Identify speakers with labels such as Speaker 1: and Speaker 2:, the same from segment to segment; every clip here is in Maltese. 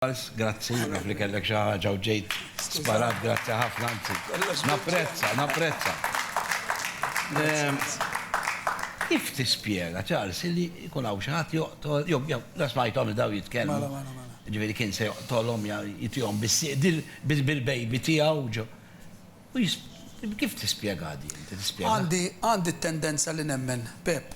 Speaker 1: Charles, grazzi, naf li kellek xi ħaġa u ġejt sparat, grazzi ħafna, anzi, napprezza, napprezza. Kif tispjega, Charles, li jkun hawn xi ħadd joqtol, jew la smajthom li daw jitkellmu, ġifieri kien se joqtolhom jew jitihom bis-sieq bil-baby tiegħu ġo. Kif tispjegaha din? Inti tispjegaha? Għandi, għandi t-tendenza li nemmen, Pepp,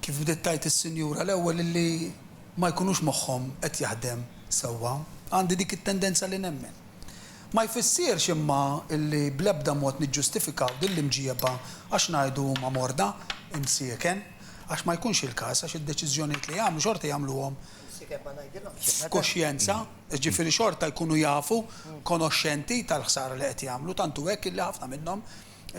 Speaker 1: kif bdiet tgħid is-sinjura l-ewwel illi ma jkunux moħħhom qed jaħdem sewwa. Għandi dik it-tendenza li nemmen. Ma jfissirx imma illi bl-ebda mod niġġustifikaw din l-imġieba għax ngħidu huma morda, imsieken, għax ma jkunx il-każ għax id-deċiżjonijiet li jagħmlu xorta jagħmluhom f'kuxjenza, jiġifieri xorta jkunu jafu, konoxxenti tal-ħsara li qed jagħmlu, tant hu hekk illi ħafna minnhom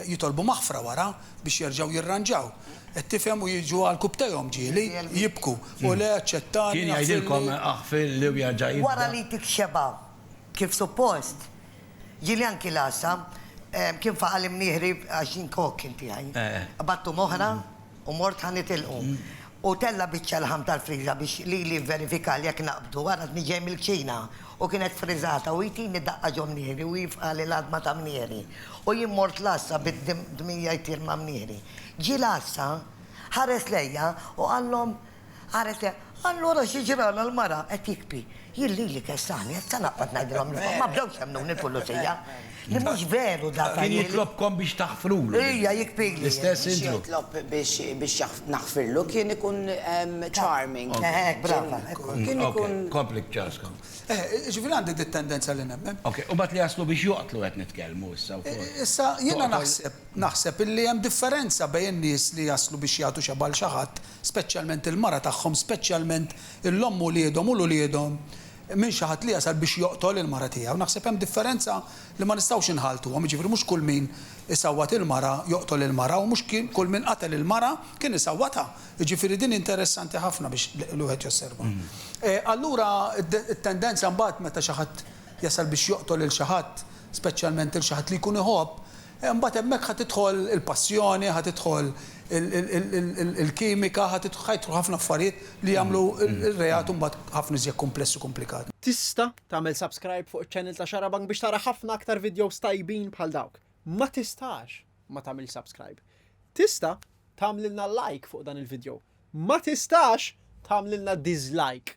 Speaker 1: jitolbu maħfra wara biex jerġgħu jirranġaw. Qed tifhem u jiġu għal kubtejhom ġieli, jibku, O le, aċċettani, aħfirli. Kien jgħidilkom aħfirli u jerġa' jibda. Wara li tikxebha kif suppost, Ġieli anki l-għassa, kien faqa' l-imnieħri għax jien kok kien tiegħi. Qbadtu m'oħra u mort ħa nitilqu. U tella' biċċa laħam tal-friża biex lili jivverifika jekk naqbdu, għarafni ġej mill-kċina u kienet friżata u jtini daqqa ġo mnieħri u jieqaf qali l-għadma ta' mnieħri. U jien mort l-għassa bid-dmija jtir ma' mnieħri. Ġie l-għassa, ħares lejja u qallhom, Qalet, Allura xi ġralha l-mara? Qed jikpi. Jien lili kessani, issa naqbad ngħidilhom li ma bdewx jemmnuni l-pulizija. Li mhux veru dak. Kien jitlobkom biex taħfrulu. Ija, jikpili. L-istess idru. Biex jitlob biex naħfirlu kien ikun charming. Hekk, brava. Kien ikun. Kompli b'ċarskom. Jiġifieri għandi din it-tendenza li nemmen. Ok, u mbagħad li jaslu biex joqtlu qed nitkellmu issa wkoll. Issa jiena naħseb, naħseb illi hemm differenza bejn in-nies li jaslu biex jagħtu xebgħa lil xi ħadd speċjalment il-mara tagħhom, speċjalment l-omm u wliedhom u l-uliedhom, minn xi ħadd li jasal biex joqtol il-mara tiegħu. Naħseb hemm differenza li ma nistgħux inħalltuhom, jiġifieri mhux kull min isawwat il-mara joqtol il-mara u mhux kull min qatel il-mara kien isawwatha. Jiġifieri din interessanti ħafna biex wieħed josserva. Allura t-tendenza mbagħad meta xi ħadd jasal biex joqtol lil xi ħadd, speċjalment lil xi ħadd li jkun iħobb, Imbagħad hemmhekk ħa tidħol il-passjoni, ħa tidħol il-kimika, ħa jidħlu ħafna affarijiet li jagħmlu r-reat imbagħad ħafna iżjed kumpless u kumplikat. Tista' tagħmel subscribe fuq iċ-channel ta' Xarabank biex tara ħafna aktar videos tajbin bħal dawk. Ma tistax ma tagħmilx subscribe. Tista' tagħmlilna like fuq dan il-video. Ma tistax tagħmlilna dislike.